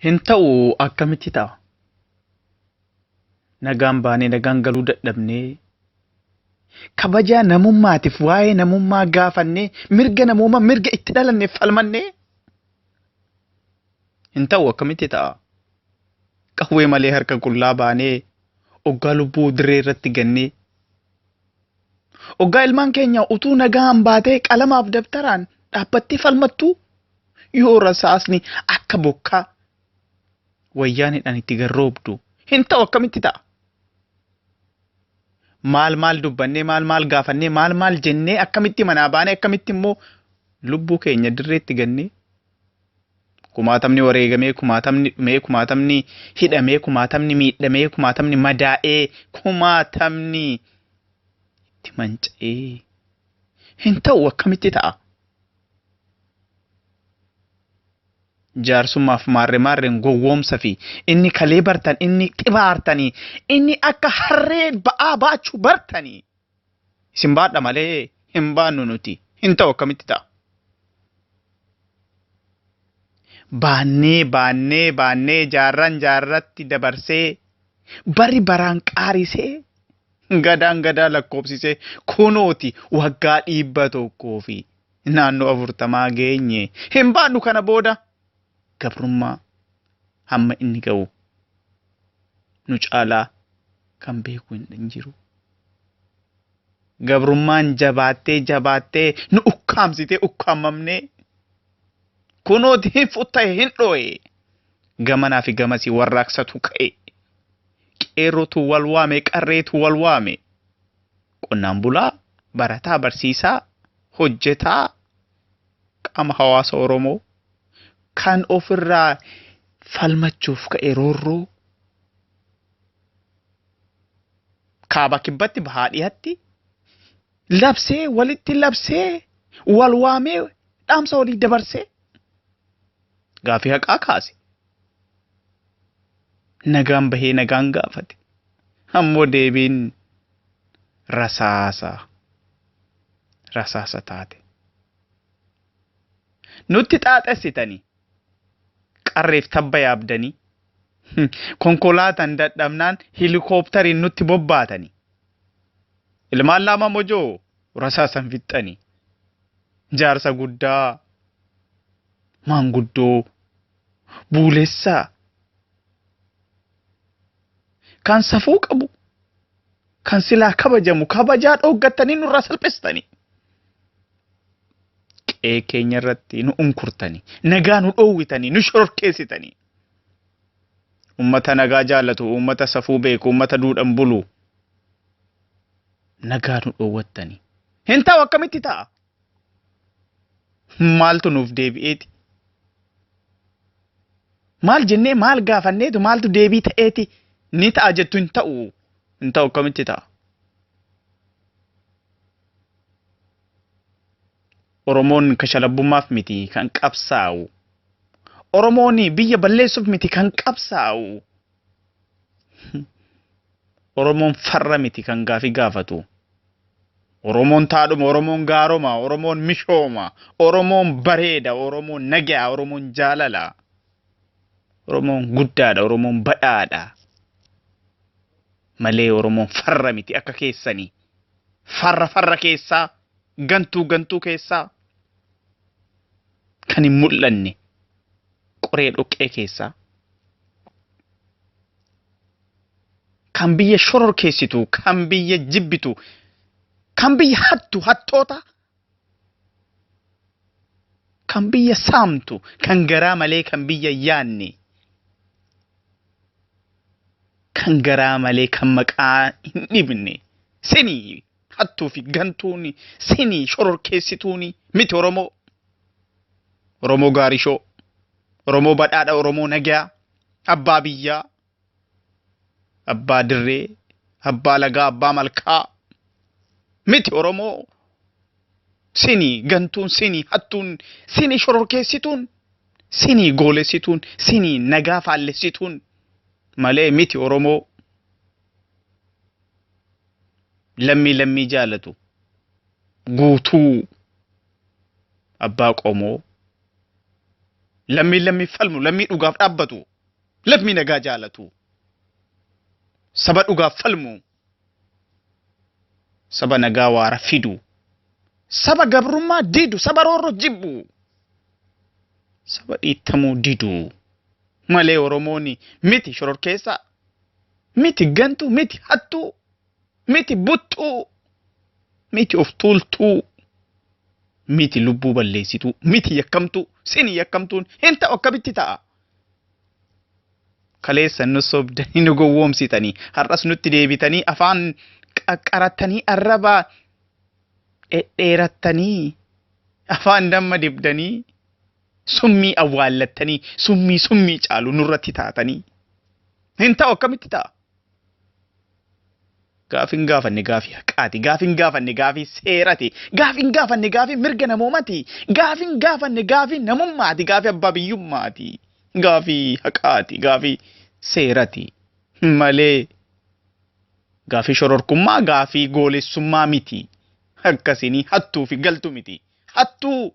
Hin ta'u akkamitti ta'a? Nagaan baanee nagaan galuu dadhabnee kabajaa namummaatiif waa'ee namummaa gaafannee mirga namummaa mirga itti dhalanne falmannee hin ta'u akkamitti ta'a? Qawwee malee harka qullaa baanee oggaa lubbuu dirree irratti gannee Oggaa ilmaan keenya utuu nagaan baatee qalamaaf dabtaraan dhaabbattee falmattuu yoo rasaasni akka bokkaa wayyaaneedhaan itti garroobdu hin ta'u akkamitti ta'a? Maal maal dubbannee maal maal gaafannee maal maal jennee akkamitti manaa baanee akkamitti immoo lubbuu keenya dirreetti gannee Kumaatamni wareegamee, kumaatamni dhumee, kumaatamni hidhamee, kumaatamni miidhamee, kumaatamni madaa'ee, kumaatamni itti manca'ee hin ta'u akkamitti ta'a? Jaarsummaaf maarre maarreen gowwoomsa fi inni kalee bartan inni xibaartanii inni akka harree ba'aa baachuu bartanii Isin baadha malee hin baannu nuti. Hin ta'u akkamitti ta'a? Baannee baannee baannee jaarraan jaarratti dabarsee bari baraan qaarisee gadaan gadaa lakkoobsisee kunooti waggaa dhibba tokkoo fi naannoo afurtamaa geenye. Hin baannu kana booda. gabrummaa hamma inni ga'u nu caalaa kan beeku hin jiru. Gabrummaan jabaattee jabaattee nu ukkaamsitee ukkaamamnee kunooti hin futtahe hin dhooye gamanaa fi gamasii warraaqsatu ka'e qeerrotu wal waame qarreetu wal waame qonnaan bulaa barataa barsiisaa hojjetaa qaama hawaasa Oromoo kan ofirraa falmachuuf ka'e roorroo kaaba kibbatti bahaa dhihatti labsee walitti labsee wal waamee dhaamsa walii dabarsee gaafii haqaa kaase. Nagaan bahee nagaan gaafate. Ammoo deebiin rasaasa. rasaasa taate. Nutti xaaxessitanii qarreef tabba yaabdanii konkolaataan dadhabnaan hilikooptariin nutti bobbaatanii ilmaan laama mojoo rasaasan fixxanii jaarsa guddaa maanguddoo buulessaa kan safuu qabu kan silaa kabajamu kabajaa dhooggattanii nurraa salphistanii qe'ee keenya irratti nu unkurtanii nagaa nu dhoowwitanii nu shororkeessitanii ummata nagaa jaallatu ummata safuu beeku ummata duudhan bulu nagaa nu dhoowwattanii hin ta'u akkamitti ta'a maaltu nuuf deebi'eeti? Maal jennee maal gaafanneetu maaltu deebii ta'eeti? Ni ta'a jettu hin ta'u. Hin ta'u akkamitti ta'a? Oromoon kashalabbummaaf miti kan qabsaa'u. Oromoon biyya balleessuuf miti kan qabsaa'u. Oromoon farra miti kan gaafii gaafatu. Oromoon taadhuma, Oromoon gaaroma, Oromoon mishooma, Oromoon bareeda, Oromoon nagaa, Oromoon jaalala. Oromoon guddaadha, Oromoon badhaadha. Malee Oromoon farra miti akka keessani. Farra farra keessaa, gantuu gantuu keessaa kan hin mul'anne. qoree dhoqqee keessaa kan biyya shororkeessitu, kan biyya jibbitu, kan biyya hattu, hattoota, kan biyya saamtu, kan garaa malee kan biyya yaanne, kan garaa malee kan maqaa hin dhibne, sini hattuu fi gantuuni, sini shororkeessituuni miti Oromoo. Oromoo Gaarishoo, Oromoo Badhaadha, Oromoo Nagayaa, Abbaa Biyyaa, Abbaa Dirree, Abbaa Lagaa, Abbaa Malkaa. Miti Oromoo sini gantuun sini hattuun sini shororkeessituun sini goolessituun sini nagaa faallessituun malee miti Oromoo lammii lammii jaalatu. guutuu abbaa qomoo lammii lammii falmu lammii dhugaaf dhaabbatu lammii nagaa jaalatu saba dhugaaf falmu saba nagaa waara fidu saba gabrummaa didu saba roorro jibbu saba dhiittamuu didu malee oromooni miti shororkeessaa miti gantuu miti hattuu Miti buttuu. Miti of tuultuu. Miti lubbuu balleessituu. Miti yakkamtuu. Sini yakkamtuun hin ta'u akkamitti ta'a? Kaleessa nu sobdanii nu gowwoomsitanii har'as nutti deebitanii afaan qaqqarattanii arraba dhedheerattanii afaan damma dibdanii summii awwaallattanii summii summii caalu nurratti taatanii hin ta'u akkamitti ta'a? Gaafin gaafanne gaafii haqaati. Gaafin gaafanne gaafii seerati. Gaafin gaafanne gaafii mirga namoomati. Gaafin gaafanne gaafii namummaati. Gaafii abbaa biyyummaati. Gaafii haqaati. Gaafii seerati. Malee gaafii shororkummaa gaafii goolessummaa miti. Akkasini hattuu fi galtu miti. Hattuu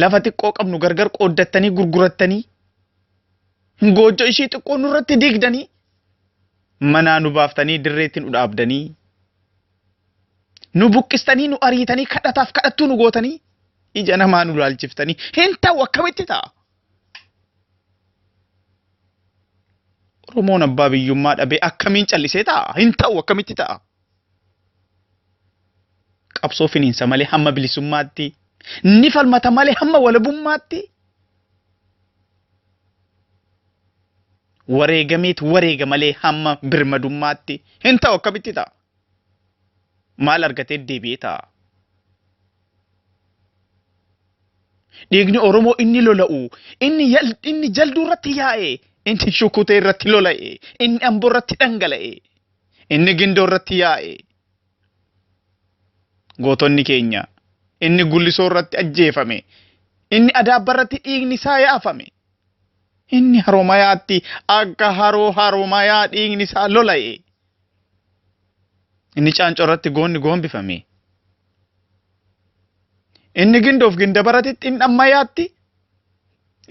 lafa xiqqoo qabnu gargar qooddattanii gurgurattanii goojjo ishii xiqqoo nurratti diigdanii manaa nu baaftanii dirreetti nu dhaabdanii nu buqqistanii nu ariitanii kadhataaf kadhattuu nu gootanii ija namaa nu laalchiftanii hin ta'u akkamitti ta'a? Oromoon abbaa biyyummaa dhabee akkamiin callisee ta'a? Hin ta'u akkamitti ta'a? qabsoo finiinsa malee hamma bilisummaatti ni falmata malee hamma walabummaatti wareegameet wareega malee hamma birmadummaatti hin ta'u akkamitti ta'a? Maal argatee deebi'ee ta'a? Dhiigni Oromoo inni lola'u, inni yal- inni jalduu irratti yaa'e, inni shukutee irratti lola'e, inni amboo irratti dhangala'e. Inni Gindoo irratti yaa'e. Gootonni keenya. Inni Gullisoo irratti ajjeefame. Inni Adaabba irratti dhiigni isaa yaafame. Inni Haromayaatti akka haroo Haromayaa dhiigni isaa lola'e. Inni Caancoo irratti goonni goombifame. Inni Gindoof Gindabarati Xindhammayaatti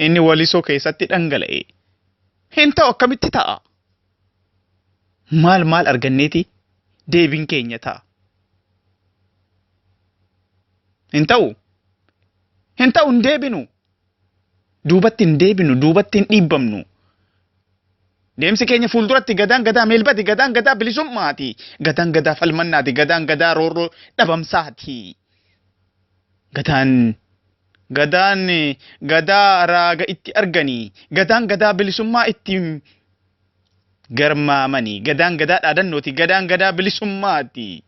inni Walisoo keessatti dhangala'e. Hin ta'u akkamitti ta'a? maal maal arganneeti deebiin keenya ta'a? Hin ta'u. Hin ta'u hin deebinu. Duubatti hin deebinu, duubatti hin dhiibbamnu. Deemsi keenya fuulduratti gadaan gadaa meelbati, gadaan gadaa bilisummaati, gadaan gadaa falmannaati, gadaan gadaa roorroo dhabamsaati. Gadaan Gadaan Gadaa raaga itti argani. Gadaan Gadaa bilisummaa itti garmaamani. Gadaan Gadaa dhaadannooti. Gadaan Gadaa bilisummaati.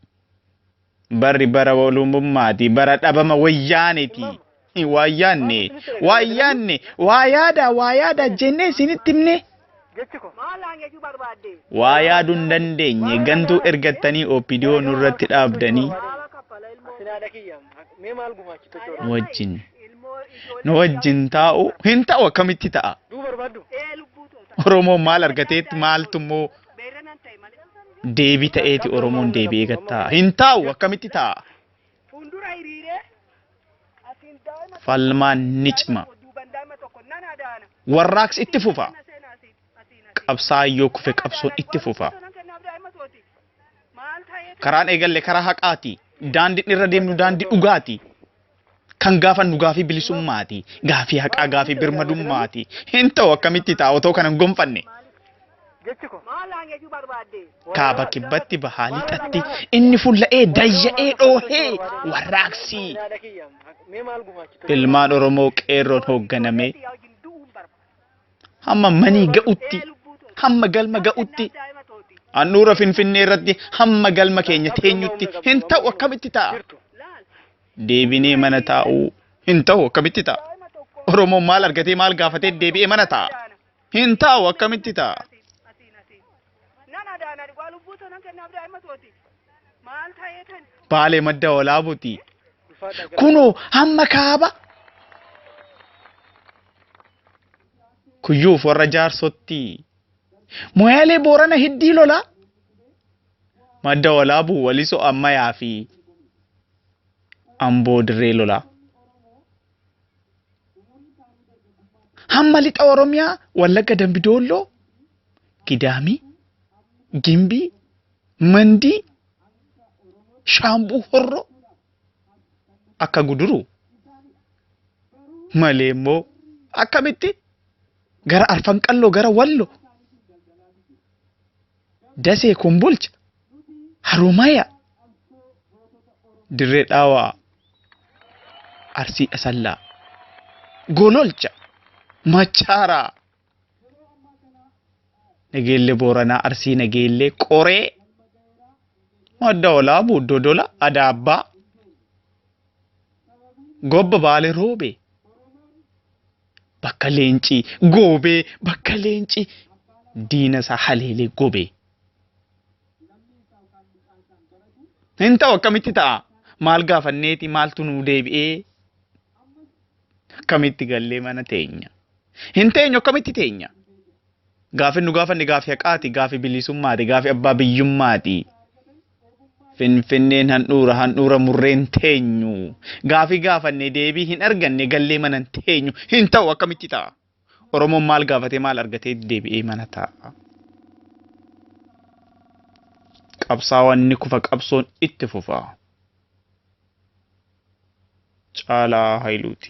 Barri bara walumummaati. Bara dhabama wayyaaneti. Waa yaanne, waa yaanne, waa yaadaa, waa yaadaa jennee isinitti himne. Jechi ko. Maal naan jechuu barbaadde? Waa yaadu hin dandeenye gantuu ergattanii OPDO nurratti dhaabdanii. Maala kaffala ilmoo. Asin haadha kiyya mee maal gumaachitu jechuudha. Nu wajjin. Ilmoo ijoollee. Nu wajjin taa'u hin ta'u akkamitti ta'a? Duu barbaaddu? Ee lubbuu too ta'a. Oromoon maal argateetti maaltu immoo Beerra nan ta'e malee. deebii ta'eeti Oromoon deebi'ee gattaa? Hin taa'u akkamitti ta'a? Fuundura hiriiree asiin daa'ima Falmaan ni cima. tokko duuban daa'ima tokko nan adaana. Warraaqsi itti fufa. Asiin aseenaa asiin asiin asiin. Qabsaa'aan yoo kufe Nan qabsoon adaana. itti fufa. Qormaata nan kennaaf daa'ima tooti. Maal ta'eetu Karaan eegalle karaa haqaati. Daandiin irra deemnu daandii dhugaati. Kan gaafannu gaafii bilisummaati. Gaafii haqaa gaafii birmadummaati. Hin ta'u akkamitti ta'a otoo kana hin gonfanne. Jechi kun maal naan jechuu barbaadde? Kaaba Kibbatti, Bahaa Lixatti, inni fulla'ee, dayya'ee, dhoohee warraaqsi Yaada kiyya mee maal gumaachitu? ilmaan Oromoo qeerroon hoogganamee Yaa wajjin du'uun barbaada. hamma manii ga'utti, Ee lubbuu too. hamma galma ga'utti, Kennaan daa'ima tooti. handhuura Finfinnee irratti hamma galma keenya teenyutti hin ta'u akkamitti ta'a? Jirtu. Laal. Deebinee mana taa'uu hin ta'u akkamitti ta'a? Daa'ima tokko. Oromoon maal argatee maal gaafatee deebi'ee mana ta'a? Hin taa'u akkamitti ta'a? Nan adaana dhugaa lubbuu too nan kennaaf daa'ima tooti. Maal ta'ee tan? Baalee madda walaabuti. Kunoo hamma kaaba. Kuyyuuf warra jaarsotti. Moyaalee boorana hiddii lola. Madda walaabuu walisoo ammayaa fi amboo dirree lolaa. Hamma lixa Oromiyaa Wallagga Dambi Doolloo, Gidaamii, Gimbii, Mandii, Shaambuu Horroo akka guduru malee immoo akkamitti gara Arfan Qalloo gara Wallo Dasee, Kombolcha, Haromaya, Dirree Dhaawaa, Arsii Asallaa, Gololcha, Machaaraa, Nageellee Booranaa, Arsii Nageellee, Qoree, Madda Olaabuu, Dodola, Adaabbaa, Gobba Baalee Roobee, bakka leenci goobee bakka leenci diina isaa haleelee gobee. Hin ta'u akkamitti ta'a? Maal gaafanneeti maaltu nuu deebi'ee? Akkamitti gallee mana teenya? Hin teenyu akkamitti teenya? Gaafin nu gaafanne gaafi haqaati, gaafi bilisummaati, gaafi abbaa biyyummaati. Finfinneen handhuura handhuura murreen teenyu. Gaafii gaafanne deebii hin arganne gallee mana hin teenyu. Hin ta'u akkamitti ta'a? Oromoon maal gaafatee maal argatee deebi'ee mana taa'a. Qabsaawaan ni kufa qabsoon itti fufa. Caalaa Hayiluuti.